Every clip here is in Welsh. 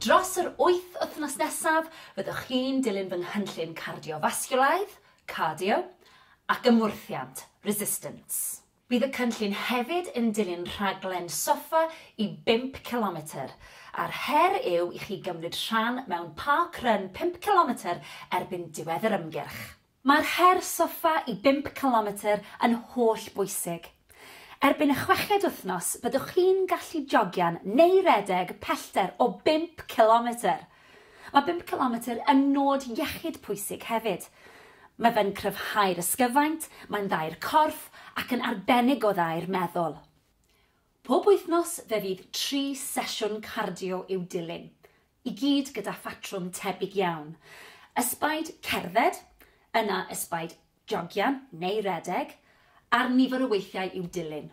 Dros yr wyth wythnos nesaf, fyddwch chi'n dilyn fy nghynllun cardiofasgiwlaidd, cardio, ac ymwrthiant, resistance. Bydd y cynllun hefyd yn dilyn rhaglen soffa i bump cilometr, a'r her yw i chi gymryd rhan mewn park run pump cilometr erbyn diwedd yr ymgyrch. Mae'r her soffa i bump cilometr yn holl bwysig. Erbyn y chweched wythnos byddwch chi'n gallu jogio'n neu redeg pellter o bump cilometr! Mae bump cilometr yn nod iechyd pwysig hefyd. Mae fe'n cryfhau'r ysgyfaint, mae'n dda i'r corff ac yn arbennig o dda i'r meddwl. Pob wythnos fe fydd tri sesiwn cardio i'w dilyn. i gyd gyda phatrwm tebyg iawn, ysbaid cerdded, yna ysbaid jogio neu redeg, a'r nifer o weithiau i'w dilyn.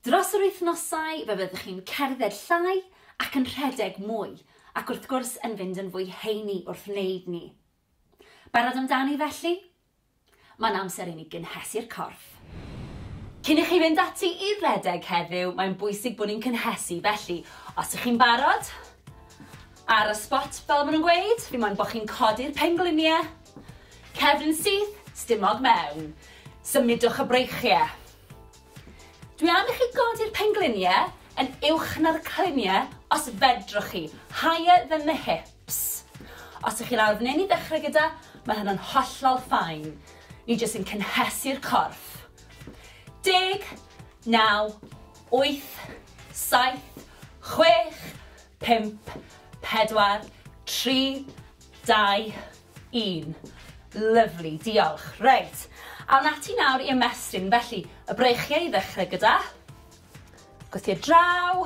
Dros yr wythnosau fe fyddwch chi'n cerdded llai ac yn rhedeg mwy, ac wrth gwrs yn fynd yn fwy heini wrth wneud ni. Barod amdani felly? Mae'n amser i ni gynhesu'r corff. Cyn i chi fynd ati i redeg heddiw, mae'n bwysig bod ni'n cynhesu, felly os ych chi'n barod, ar y spot fel maen nhw'n gweud, fi moyn bod chi'n codi'r pengliniau, cefn syth, stumog mewn, symudwch y breichiau. Dwi am i chi godi'r pengliniau yn uwch na'r cliniau os fedrwch chi, higher than the hip. Ps. Os ych chi lawr f'nyn i ddechrau gyda, mae hynna'n hollol fine. Ni jyst yn cynhesu'r corff. Deg, naw, wyth, saith, chwech, pump, pedwar, tri, dau, un. Lyfli, diolch. Reit, awn ati nawr i ymestyn. Felly, y breichiau i ddechrau gyda. Gwthio draw.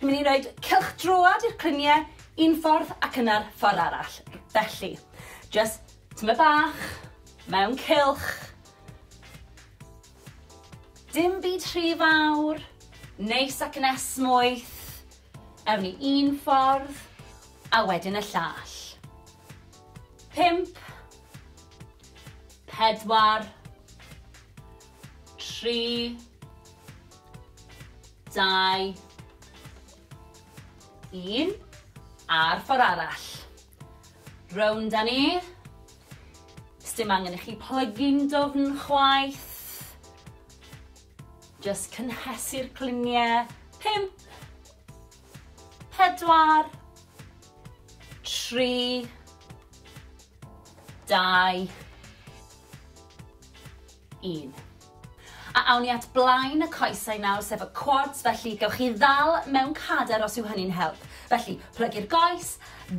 Ni'n mynd i roed cylch droad i'r clynie un ffordd ac yna'r ffordd arall. Felly, just tyma bach, mewn cylch. Dim byd rhy fawr, neis ac yn esmwyth. Ewn ni un ffordd, a wedyn y llall. Pimp. Pedwar. Tri. Dau. Un. A'r ffordd arall. Rownd â ni. Sdim angen i chi plygu'n dofn chwaith. Just cynhesu'r cliniau. Pump. Pedwar. Tri. Dau. un. A awn ni at blaen y coesau nawr, sef y quads, felly gewch chi ddal mewn cader os yw hynny'n help. Felly, plygu'r goes,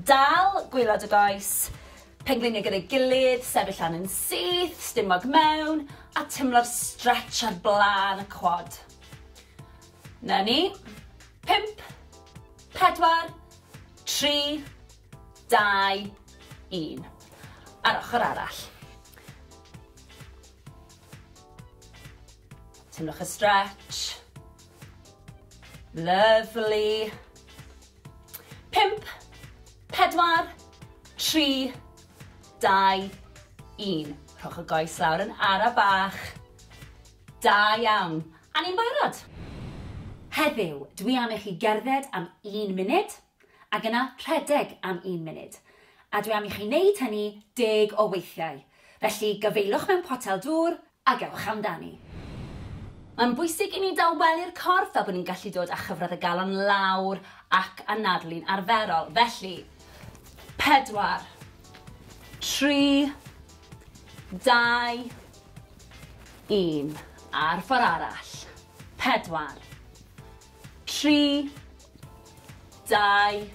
dal gwylod y goes, pengliniau gyda'i gilydd, sefyll lan yn syth, stumog mewn, a timlo'r stretch ar blaen y quad. Na ni. Pimp, pedwar, tri, dau, un. A'r ochr arall. Teimlwch y stretch. Lovely. Pimp, pedwar, tri, dau, un. Rhowch y goes lawr yn ara bach. Da iawn. A ni'n barod. Heddiw, dwi am i chi gerdded am un munud. Ac yna rhedeg am un munud. A dwi am i chi wneud hynny deg o weithiau. Felly, gafaelwch mewn potel dŵr a gewch amdani. Mae'n bwysig i ni dawelu'r corff fel bod ni'n gallu dod â chyfradd y galon lawr ac anadlu'n arferol. Felly, pedwar, tri, dau, un. A'r ffordd arall. Pedwar. 3, 2,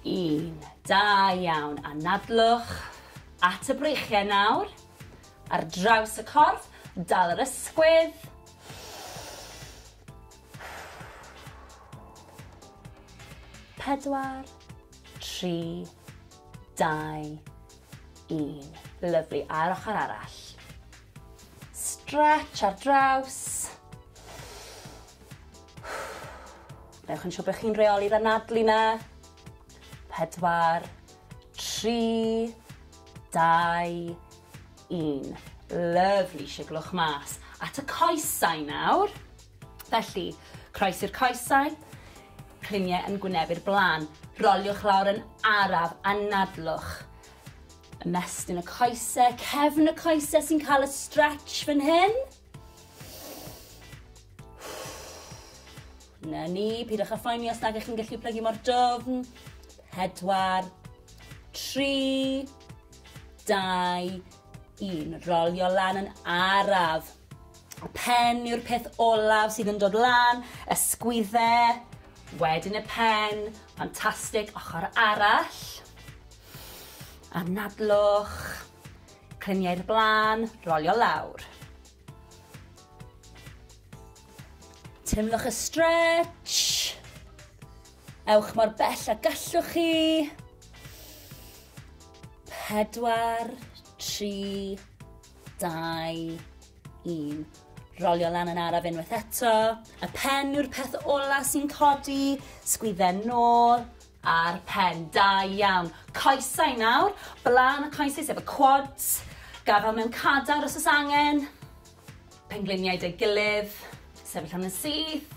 1. Da iawn. Anadlwch at y breichiau nawr. Ar draws y corff, dal yr ysgwydd. Pedwar, tri, dau, Un. Lyfli, a'r ochr arall. Stretch ar draws. Newch yn siŵr bod chi'n reoli'r anadlu na. Pedwar, tri, dau, un. Lyfli, siglwch mas. At y coesau nawr. Felly, croesi'r coesau, cliniau yn gwynebu'r blaen, roliwch lawr yn araf a nadlwch. Ymestyn y coesau, cefn y coesau sy'n cael y stretch fan hyn. Na ni, pidwch â phoeni os nag ych chi'n gallu plygu mor dofn. Pedwar, tri, dau, un. Rolio lan yn araf. Y pen yw'r peth olaf sydd yn dod lan, ysgwydde, wedyn y pen, ffantastig, ochr arall, anadlwch, clymiau'r blaen, rolio lawr. Teimlwch y stretch, ewch mor bell a gallwch chi, pedwar, tri, Dau, un. Rolio lan yn araf unwaith eto. Y pen yw'r peth ola sy'n codi. Sgwydden nôl a'r pen. Da iawn. Coesau nawr. Blaen y coesau sef y quads. Gafel mewn cadar os oes angen. Pengliniau dy gilydd. Sefyll am yn syth.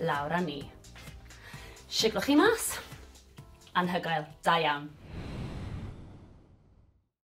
lawr â ni. Siglwch chi mas. Anhygoel. Da iawn.